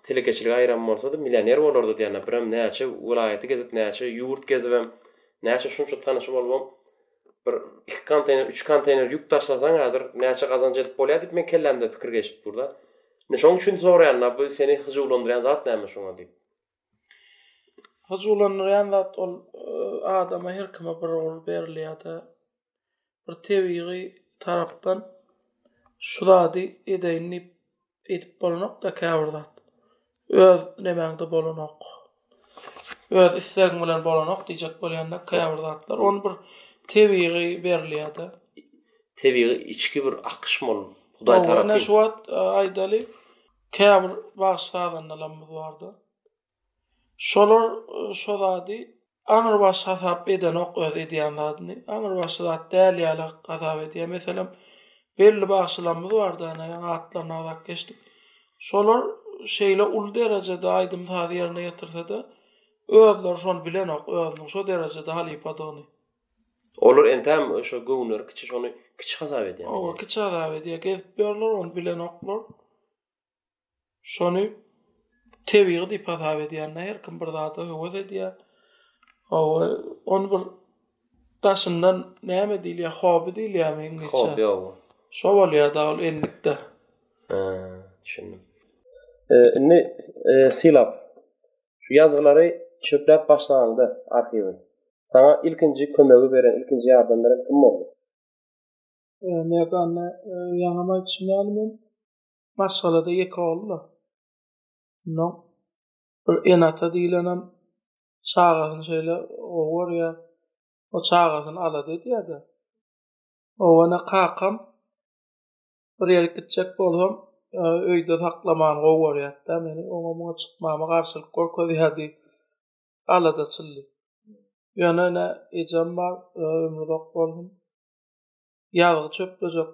telekeçilige aýyran bolsady millioner bolardy diýýän birem näçe welaýaty gezip näçe ýurt gezibem näçe şunça tanyşy bolubam bir iki konteýner üç konteýner ýük daşlasaň häzir näçe gazanç edip bolýar diýip meň kellämde pikir geçip durda indi şoň üçin soraýan bu seni hyjuwlandyrýan zat näme şoňa diýip. Hyjuwlandyrýan zat ol adama her kime bir ugur berilýär-de. Bir tebigy tarapdan şu zady edeýin diýip edip bolanok-da käbir zat. Öz nemäňde bolanok. Öz islegiň bilen bolanok diýjek bolýanda käbir zatlar ony bir tebigy berilýär-de. Tebigy içki bir akyşma ol. Hudaý tarapyn. Ine şu wagt aýdaly. Käbir bagşy-sazandalarymyz bardy. Şolar şo zady aňrybaşy hasap edenok öz edýän zadyny. Aňrybaşy zat däl ýaly hasap edýär. Meselem, belli bagşylarymyz bardy, ana, ýaňy atlaryny agzap geçdik. Şolar şeýle uly derejede aýdym-sazy ýerine ýetirse-de, özleri şony bilenok, özüniň şo derejede halypadygyny. Olar entäm şo göwünleri kiçi şony kiçi hasap edýär. Oba kiçi hasap edýär. Gezip ýörler ony bilenoklar. Şony tebigy diýip hasap edýänler. Her kim bir zada höwes edýär. Oba ony bir daşyndan näme diýilýär? Hobi diýilýärmi iňlisçe? Hobi oba. Şo bolýar da ol endikde. Düşündim. Indi sylap Şu ýazgylary çöpläp başlanyňda arhiwi, saňa ilkinji kömegi beren, ilkinji ýardam beren kim boldy? Merdan, ýaňam aýtşym ýaly men maşgalada ýeke ogul-da. Onnoň bir ene-ata diýlenem çagasyny şeýle gowy görýär. O çagasyny alada edýär-de. Oňa-da kakam bir ýere gitjek bolsam, öýde saklaman gowy görýärdi. Meni oňa muňa çykmama garşylyk görkezýärdi. Alada çyldy. Ýöne ene ejem bar, ömri uzak bolsun. Ýazgy çöplejek.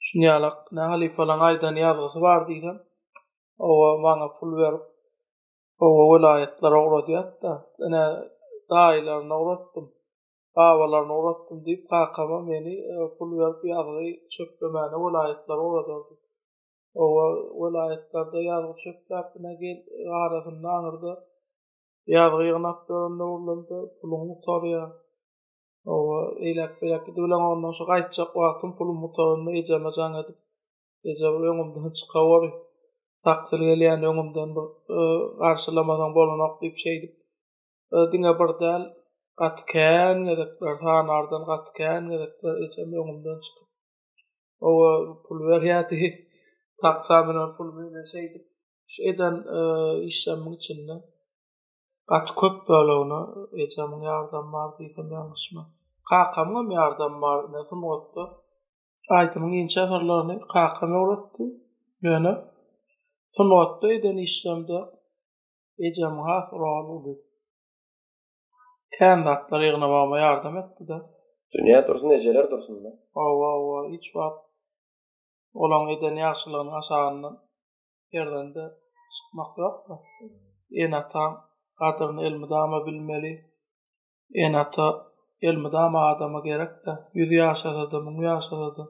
Şunýalak, ne halypalaň aýdan ýazgysy bar diýsem, owa maňa pul berip, owa welaýatlara ugradýardy-da. Ene daýylaryna ugratdym. babalaryna uratdym diýip kakama meni pul berip ýazgy çöplemäne welaýatlara ugradardy. Oba, welaýatlarda ýazgy çöpläp bina gel arasynda aňyrda ýazgy ýygnap ýören döwürlerimde puluň gutarýar. Oba, eýläk beýläk gidip bilen ondan şu gaýtjak wagtym pulum gutaranda ejeme jaň edip eje bir öňümden çyka wori takdyr gelýän öňümden bir garşylamasaň bolanok diýip şeýdip e, diňe bir däl gaty kän gezekler sanardan gaty kän gezekler ejem öňümden çykyp owa pul berýärdi taksa bilen pul bilen şeýdip şu eden e, işlerimin içinde gaty köp bölegine ejemiň ýardamy bar diýsem ýalňyşma kakamyň hem ýardamy bar ne sungatda aýdymyň inçe syrlaryny kakam öwretdi ýöne sungatda eden işlerimde ejem has rol uly. Kän zatlar ýygnamagma ýardam etdi-de. Dünýä dursun ejeler dursun-da. Hawa hawa hiç wagt olaň eden ýagşylygynyň aşagyndan perdende çykmak ýokda. Ene ataň gadyryny elmydama bilmeli. Ene ata elmydama adama gerekde. Ýüz ýaşasada, müň ýaşasada.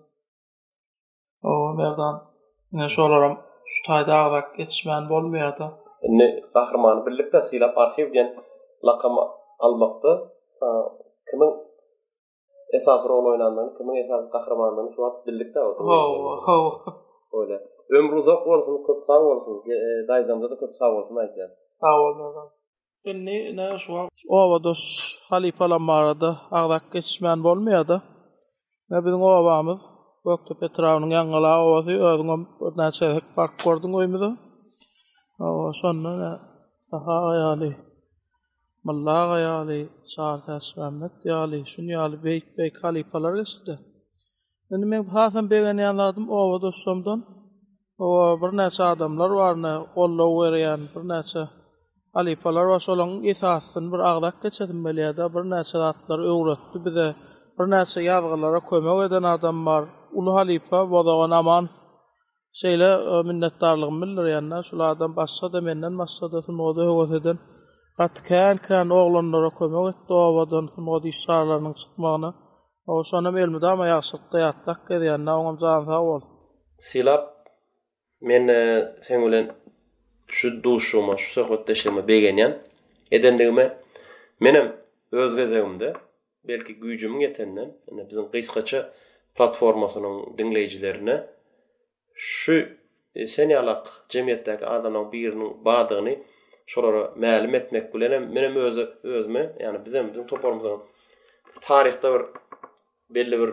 O, Merdan, ine şolaram şu taýda agzak ýetişmän bolmaýar-da. Indi gahrymany birlikde sylap arhiw diýen lakamy almakda kimiň esasy rol oýnandygyny, kimiň esasy gahrymandygyny şu wagt bildik de. Hawa, hawa. Öyle. Ömrü uzak bolsun, köp sag bolsun. Dayzamda da köp sag bolsun aytýan. Sag bol, Merdan. Indi ine şu wagt obadaş halypalar barada agzap geçmän bolmaýar-da. Ine biziň obamyz Gökdepe etrabynyň Ýaňyla obasy, özüňem birnäçe gezek baryp gördüň öýümize. Hawa, şonda ine Saha aga ýaly, Mylla aga ýaly, Çary Täçmämmet ýaly, şuny ýaly beýik-beýik halypalar geçdi-de. Indi men hasam begenýän zadym obadaşlarymdan oba birnäçe adamlar bar, ne goldaw berýän birnäçe halypalar bar. Şolaryň esasyny bir agzap geçesim gelýär-de, birnäçe zatlar öwretdi bize. Birnäçe ýazgylara kömek eden adam bar. Uly halypa Bozagan Aman Şeýle minnetdarlygymy bildirýän-de, şulardan başga-da menden başga-da sungat höwes eden gaty kän-kän oglanlara kömek etdi obadan sungat işgarlarynyň çykmagyna. Şonam elmydama ýagşylykda ýatlap gezýän-de, oňam jany sag bolsun. Sylap, men-de seň bilen şu duşuşygyma, şu söhbetdeşligime begenýän. Edendigime menem öz gezegimde Belki güýjümiň ýetenden, ine biziň gysgaça platformasynyň diňleýjilerine şu sen ýaly ak jemgyýetdäki adamlaň biriniň bardygyny şolara mälim etmek bilenem menem özi özüme, ýagny bizem biziň toparymyzam taryhda bir belli bir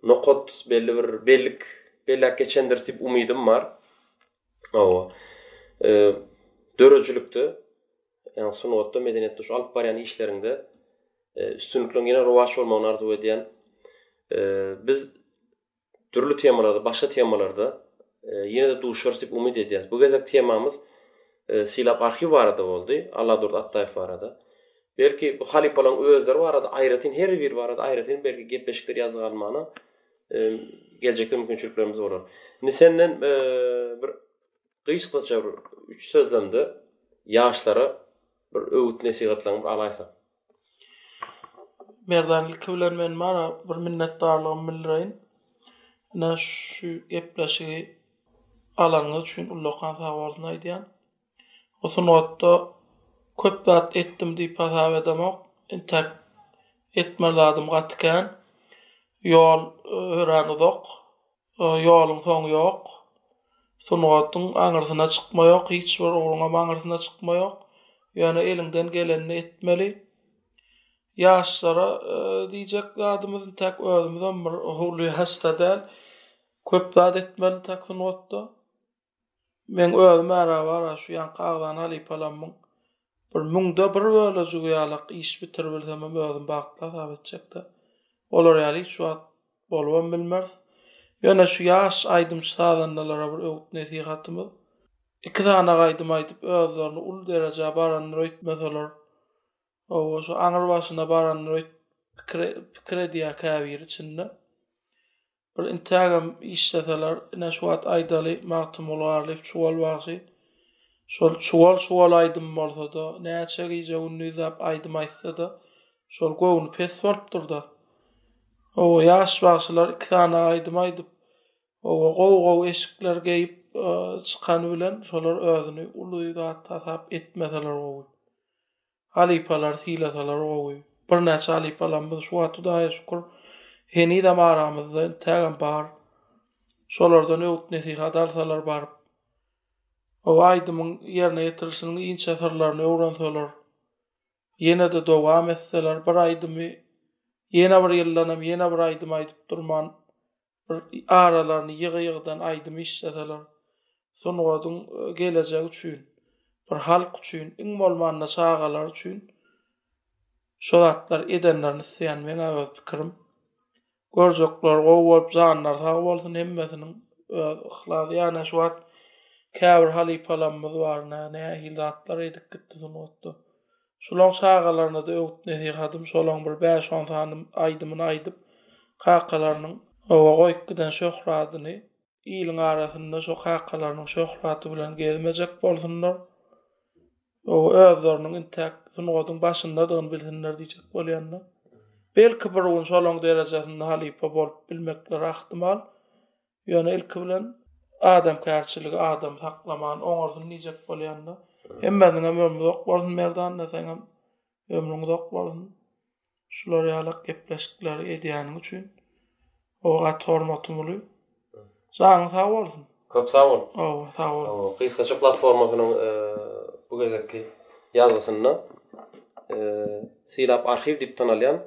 nokat, belli bir bellik belläp geçendiris diýip umydym bar. Hawa. Döredijilikde ýagny sungatda, medeniýetde şu alyp barýan işleriňde üstünlikliň ýene rowaç bolmagyny arzuw edýän. Biz dürli temalarda, başga temalarda ýene-de duşarys diýip umyt edýäs. Bu gezek temamyz Sylap arhiw barada boldy, Alladurdy Atdaýew barada. Belki bu halypalaryň özleri barada aýratyn her biri barada aýratyn belki gepleşikler ýazga almana geljekde mümkinçiliklerimiz bolar. Indi senden bir Gysgaça bir üç sözlemde ýaşlara bir öwüt-nesihatlaryňy bir alaýsak. Merdan ilki bilen men mana bir minnetdarlygymy bildireýin. Ine şu gepleşigi alanyňyz üçin ullakan sag bolsun aýdýan. Bu sungatda köp zat etdim diýip hasap edemok. Intäk etmeli zadymy gaty kän. Ýol örän uzak. Ýoluň soňy ýok. Sungatyň aňyrsyna çykma ýok, hiç bir ugruňam aňyrsyna çykma ýok. Ýöne eliňden gelenini etmeli. Ýaşlara diýjek zadymyz intäk özümizem bir howly ýaşda däl. Köp zat etmeli intäk sungatda. Meň özüm ara-bara şu ýaňky agzany halypalamyň bir müňde bir bölejigi ýalak iş bitiribilsemem özüm bagtly hasap etjek-dä. Olar ýaly hiç wagt bolubam bilmeris. Ýöne şu ýaş aýdymçy-sazandalara bir öwüt-nesihatymyz, iki sany aýdym aýdyp özlerini uly derejä barandyr öýtmeseler, hawa, şu aňrybaşyna barandyr öýt pikir edýär käbiri içinde. Bir intägem işleseler, ine şu wagt aýdaly Magtymguly Garlyýew çuwal bagşy. Şol çuwal-çuwal aýdym bolsa-da, näçe gije-gündizläp aýdym aýtsa-da, şol göwni pes bolupdyr-da. Oba ýaş bagşylar iki sany aýdym aýdyp, oba gowy-gowy eşikler geýip çykany bilen, şolar özüni uly zat hasap etmeseler gowy. Halypalary sylasalar gowy. Birnäçe halypalarymyz şu wagt Hudaýa şükür henizem aramyzda, intägem bar. Şolardan öwüt-nesihat alsalar baryp. O aýdymyň ýerine ýetirilişiniň inçe syrlaryny öwrenseler. Ýene-de dowam etseler, bir aýdymy ýene bir ýyldanam ýene bir aýdym aýdyp durman, bir aralaryny ýygy-ýygydan aýdym işleseler, sungatyň gelejegi üçin, bir halk üçin, iň bolmanda çagalar üçin şo zatlar edenlerini isleýän meň-ä öz pikirim. Görjekler gowy bolup janlary sag bolsun hemmesiniň öz yhlas ýa-ne şu wagt käbir halypalamyz bar nä nähili zatlar edip gitdi sungatda. Şolaň çagalaryna-da öwüt-nesihatym, şolaň bir bäş-on sany aýdymyny aýdyp, kakalarynyň oba goýup giden şöhradyny, iliň arasynda şo kakalarynyň şöhraty bilen gezmejek bolsunlar, oba özleriniň intäk sungatyň başyndadygyny bilsinler diýjek bolýan-da. Belki, bir gün şolaň derejesinde halypa bolup bilmekleri ahtimal. Ýöne ilki bilen adamkärçiligi adam saklaman oňarsyny diýjek bolýanda, hemmäniňem ömri uzak bolsun Merdanda seňem ömrüň uzak bolsun. Şular ýalak gepleşikleri edýäniň üçin o gaty hormatym uly. Janyň sag bolsun. Köp sag bol. Hawa, sag bol. Hawa, gysgaça platformasynyň bu gezekki ýazgysynda Sylap arhiw diýip tanalýan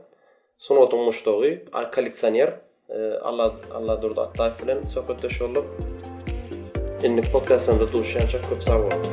Sungatyň muşdagy, kolleksioner Alla Alladurdy Atlaýew bilen söhbetdeş bolduk. Indiki podkastlarymyzda duşýança köp sag boluň.